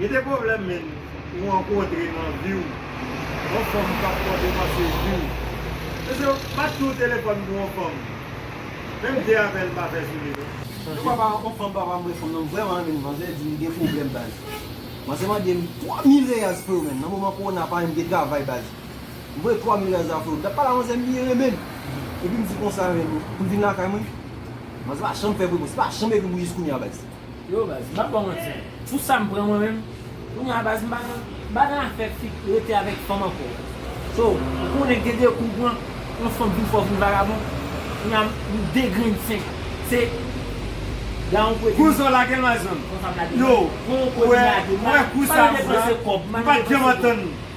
Gen de pwoblèm menn ou rankontre nan vi w, yon fanm k ap pòte panse di w, Mesye, pa di yon telefòn pou yon fanm, menm de apèl pa fè sou li non. Yon fwa yon fanm pa vle reponn nan, m vrèman renmen li, manzè di m, gen pwoblèm baz. Manzè mande m, 3 mil reyaz freo menn, nan moman kowona pa menm gen travay baz. M voye 3 mil reyaz la freo, m t ap pale a manzè m byen renmen l, epi m di konsa menm, pou l vin lakay mwen? Manzè pa janm fè m repons, li pa janm ekri m pou jiskounya baz. Yo baz, m pap baw manti, pou sam pran mwen menm, kounye a baz m pa nan, m pa nan afè fi k rete avèk fanm ankò. So, ou konnen gen de kou ou pran, yon fanm di w fè w vin vagabon, kounye a m degrenn senk, se la yon pwedi m. Kou sa w lage l ma zanmi. Konsa m lage l. Yo, ou wè, ou wè kou sa m pran, m pat janm antann.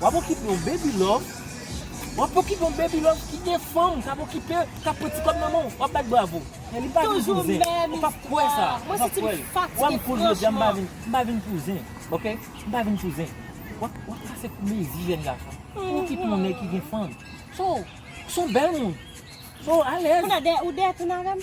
Wap okipe yon baby love Wap okipe yon baby love kite fanm kap okipew kap pran ti kob nan menw wap bat bravo men li pa vin pou zen ou pap k kwè sa ou pap k wèl ou wèm koul jodia mpa vin mpa vin pou zen ok mpa vin pou zen wap wap kase kou mezi jèn gason ou okipe yon nèg ki gen fanm so son bèl moun so alèz ou dèyè toune avèm.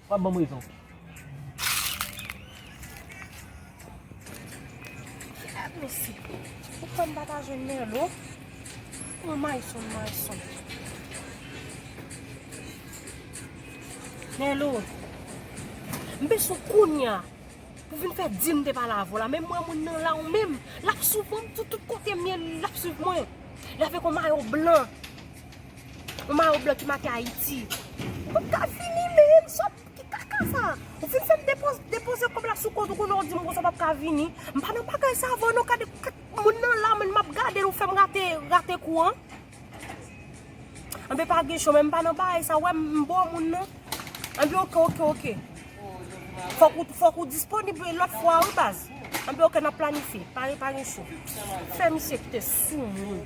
Wap banm rezon. Kilè nou si. Ou kwè m pa ta jwenn Merlo. Ou may son may son. Merlo. M beswen kounya. Pou vin fè di m te pale avw la. Menm mwen moun nan la ou menm. Lap sou banm tout kote m ye lap swiv mwen. Lave kon mayo blan. Yon mayo blan ki make Ayiti. Ou pa ka vini menm. Sot. Ki kaka sa? Ou fin fè m depoze kòb la sou kont ou konnen ou di m konsa w pa ka vini. M pa nan bagay sa avè w non. Gade moun nan la menm m ap gade l ou fè m rate kou an. Anben pa gen cho menm m pa nan bagay sa. Ou wè m bo moun non. Anben ok ok ok. Fòk ou disponib lòt fwa wi baz. Anben ok n ap planifye. Pa gen cho. Fè misye kite sou moun.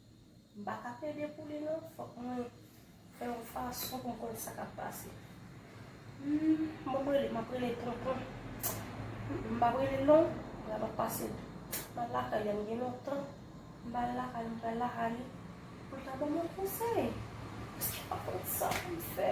M pa ka plede pou li non fòk mwen fè yon fason pou m konn sa k ap pase humm bon m rele m ap rele tonton m pa rele l non m ap pase m al lakay li an gen lontan m pa al lakay li m pral lakay li pou l ka ban m yon konsèy m pa konn sa pou m fè.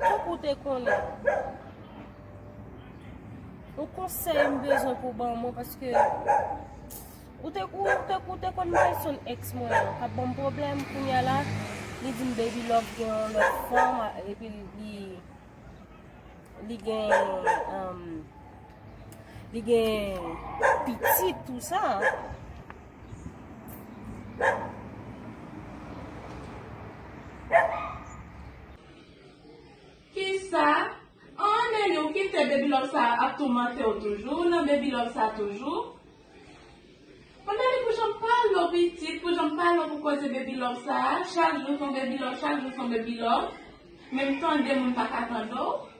Fok ou te konnen. Ou konsey m bezwen pou ban mwen paske ou te ou te ou te konn mwen son ex mwen an kap banm problem kounya la li di m baby love gen yon lot fanm epi li li gen um li gen pitit tout sa. Kisa Aah Nelly ou kite baby love sa ap toumantew toujou ou nan baby love sa toujou Bon Nelly pou janm pa lo pitit pou janm pa lo pou koze baby love sa chak jou son baby love chak jou son baby love menm tande moun paka tande w.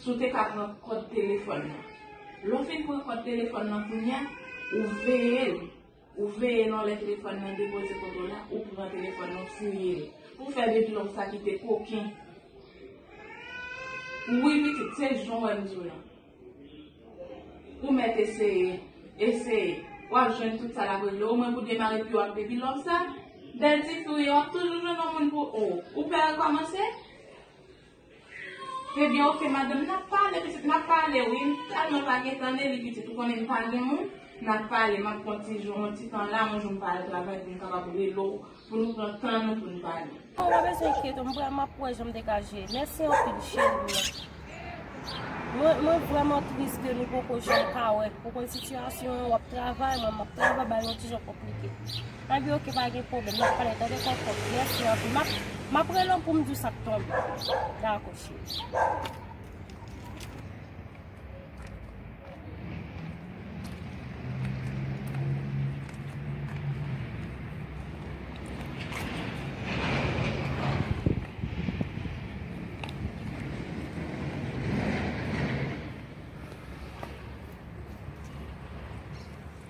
Si w te ka pran kòd telefòn nan. Lè w fin pran kòd telefòn nan kounye a, ou veye l. Ou veye l yon lè telefòn nan depoze kote l la, ou pran telefòn nan, ou fouye l. Pou w fè bidlong sa ki te koken. Wi pitit, se jan w wè m di w lan. Ou mèt eseye. Eseye. W ap jwenn tout sa l ap regle. Omwen pou demare pi w ap depi lò sa. Bèl ti fi w ye, w ap toujou jwenn yon moun pou ou. Ou pè rekòmanse? Trèbyen ok madanm nap pale pitit nap pale wi m tèlman pa gen tan de li pitit ou konnen m pa gen moun nap pale map pran ti jou yon ti tan la yon jou m pa al travay pou m kapab rele w pou nou pran tan nou pou nou pale. Bon pa bezwen enkyete w m pral map wè jan m te ka jere mèsi anpil cheri mwen mwen vrèman tris ke nou poko janm ka wè ou konn sitiyasyon an wap travay mwen map travay bay nou ti jan konplike. Aby ok pa gen pwoblem nap pale tande koko merci anpil map map rele w poum di w sak tonbe dako cheri.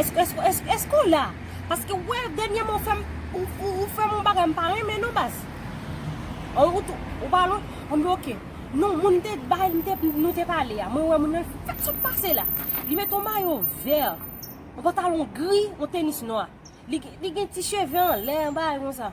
Eske ou la? Paske ou wè dènyèman ou fèm ou fèm yon bagay m pa renmen non baz. Ou pa lwen? Anben ok. Non moun m te bay m te nou te pale a mwen wè moun nan li fèk sot pase la. Li mete yon mayo vè, yon pantalon gri, yon tenis nwa. Li gen ti cheve anlè yon bagay konsa.